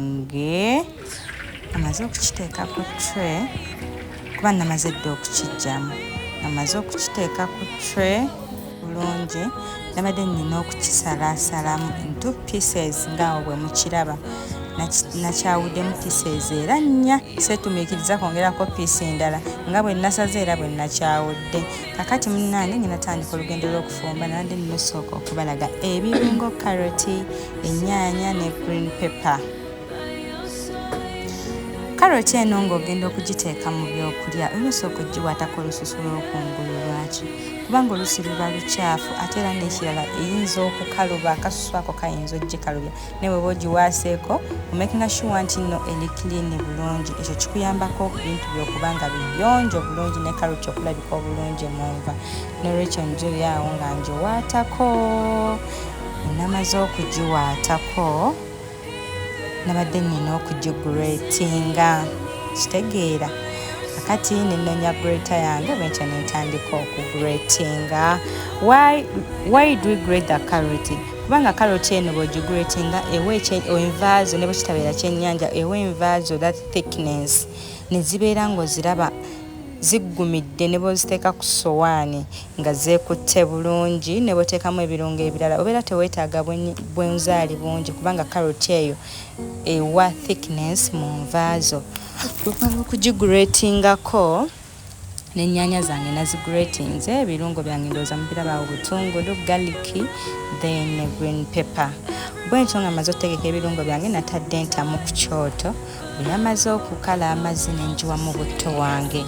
kyange amaze okukiteeka ku tre kuba namaze dda okukijjamu amaze okukiteeka ku tre bulungi nabadde nnina okukisalaasalamu into pieces ngaawo bwe mukiraba nakyawuddemu pieces era nnya seetumiikiriza kwongerako piisi endala nga bwe nasaze era bwe nakyawudde kakati munnange ngenatandika olugendo lw'okufumba nabadde nnosooka okubalaga ebirungo karoti ennyaanya ne green pepper karoti eno ng'ogenda okugiteeka mu byokulya olina osooka ogiwaatako olususu lw'okungulu lwaki kubanga olusi luba lukyafu ate era n'ekirala eyinza okukaluba akasusu ako kayinza ogikalubya naye weba ogiwaaseeko omakinga shuwa nti nno eri kiliini bulungi ekyo kikuyambako ebintu byokuba nga biyonjo bulungi ne karoti okulabika obulungi mu nva n'olwekyo njoyaawo nga ngiwaatako namaze okugiwaatako nabadde nina okugigretinga kitegeera akati nenonya greater yange bwentyo nentandika okugretinga why, why do we grade the carrot kubanga carrot eno bwogigretinga ewa envaazo ne bwekitabeera kyenyanja ewa envaazo that thickness nezibeera ngaoziraba ziggumidde ne bwoziteeka ku sowaani nga zeekutte bulungi ne bw'oteekamu ebirungo ebirala obeera teweetaaga bwenzaali bungi kubanga karoti eyo ewa thickness mu nva zo okwala okugiguretingako n'ennyaanya zange naziguretinze ebirungo byange ndowooza mubirabaawo butungulu galiki then green pepper bwentyo nga maze okutegeka ebirungo byange natadde entamu ku kyoto bwe yamaze okukala amazzi ne ngiwamu butto wange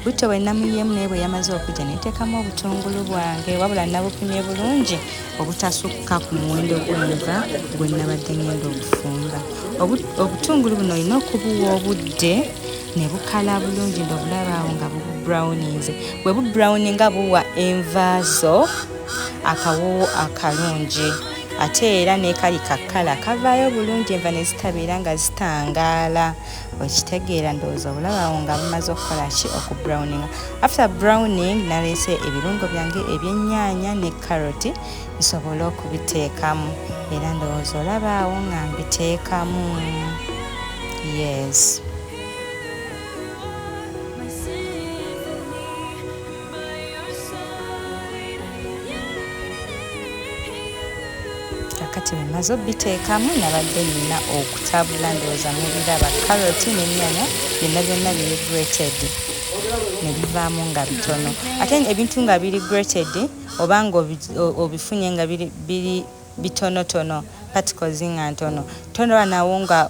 butto bwe namuyiemu naye bwe yamaze okujja neteekamu obutungulu bwange wabula nabupimye bulungi obutasukka ku muwendo gwenva gwe nabadde ngenda okufumba obutungulu buno olina okubuwa obudde ne bukala bulungi ndobulabaawo nga bubrowninze bwe bubrowninga buwa envaazo akawoowo akalungi ate era nekali kakkala kavaayo bulungi enva ne zitabeera nga zitangaala okitegeera ndowooza obulabawo nga bumaze okukola ki oku browning after browning naleese ebirungo byange ebyennyanya ne caroti nsobole okubiteekamu era ndowooza olabaawo nga mbiteekamu yes kakati mumaze obiteekamu nabadde nina okutabula ndowooza mubiraba caroti nenyanya byonna byonna biri grated nebivaamu nga bitono ate ebintu nga biri grated oba nga obifunye nga biri bitonotono particles nga ntono tonaba nawo nga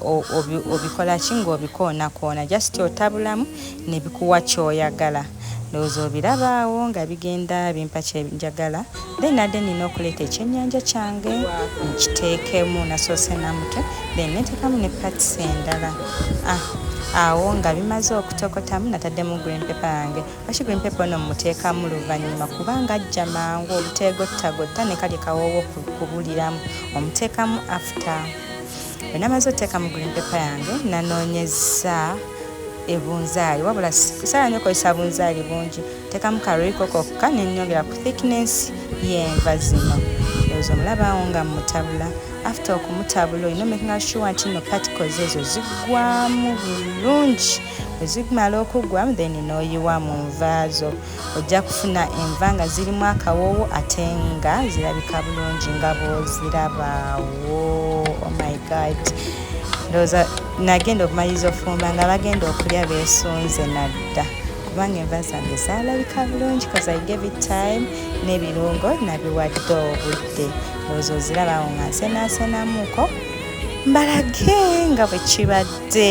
obikola ki nga obikoonakoona just otabulamu nebikuwa kyoyagala ndowooza obirabaawo nga bigenda bimpa kyenjagala then nadde nina okuleeta ekyenyanja kyange nkiteekemu nasoose namutwe then neteekamu ne pats endala ah, awo nga bimaze okutokotamu nataddemu green paper yange Lwaki gwe mpepo no mmuteekamu luvannyuma kubanga ajja mangu obuteegottagotta ne kalye kawoowo kubuliramu omuteekamu afta bwe namaze oteeka mu green paper yange nanoonyezza ebunzaali wabula saala nyo kozesa bunzaali bungi teekamu karoiko kokka nenyongera ku thickness yenva zino ezo omulabawo nga mutabula after okumutabula olina omekinga shuwa nti no particles ezo zigwamu bulungi wezigmala okugwa then noyiwa mu nva zo ojja kufuna enva nga zirimu akawoowo ate nga zirabika bulungi nga bwozirabaawo oh my god ndowooza nagenda okumaliriza ofumba nga bagenda okulya besunze nadda kubanga enva zange zalabika bulungi kaza gave time n'ebirungo nabiwadde obudde ndowooza ozirabawo nga nsenasenamuko mbalage nga bwe kibadde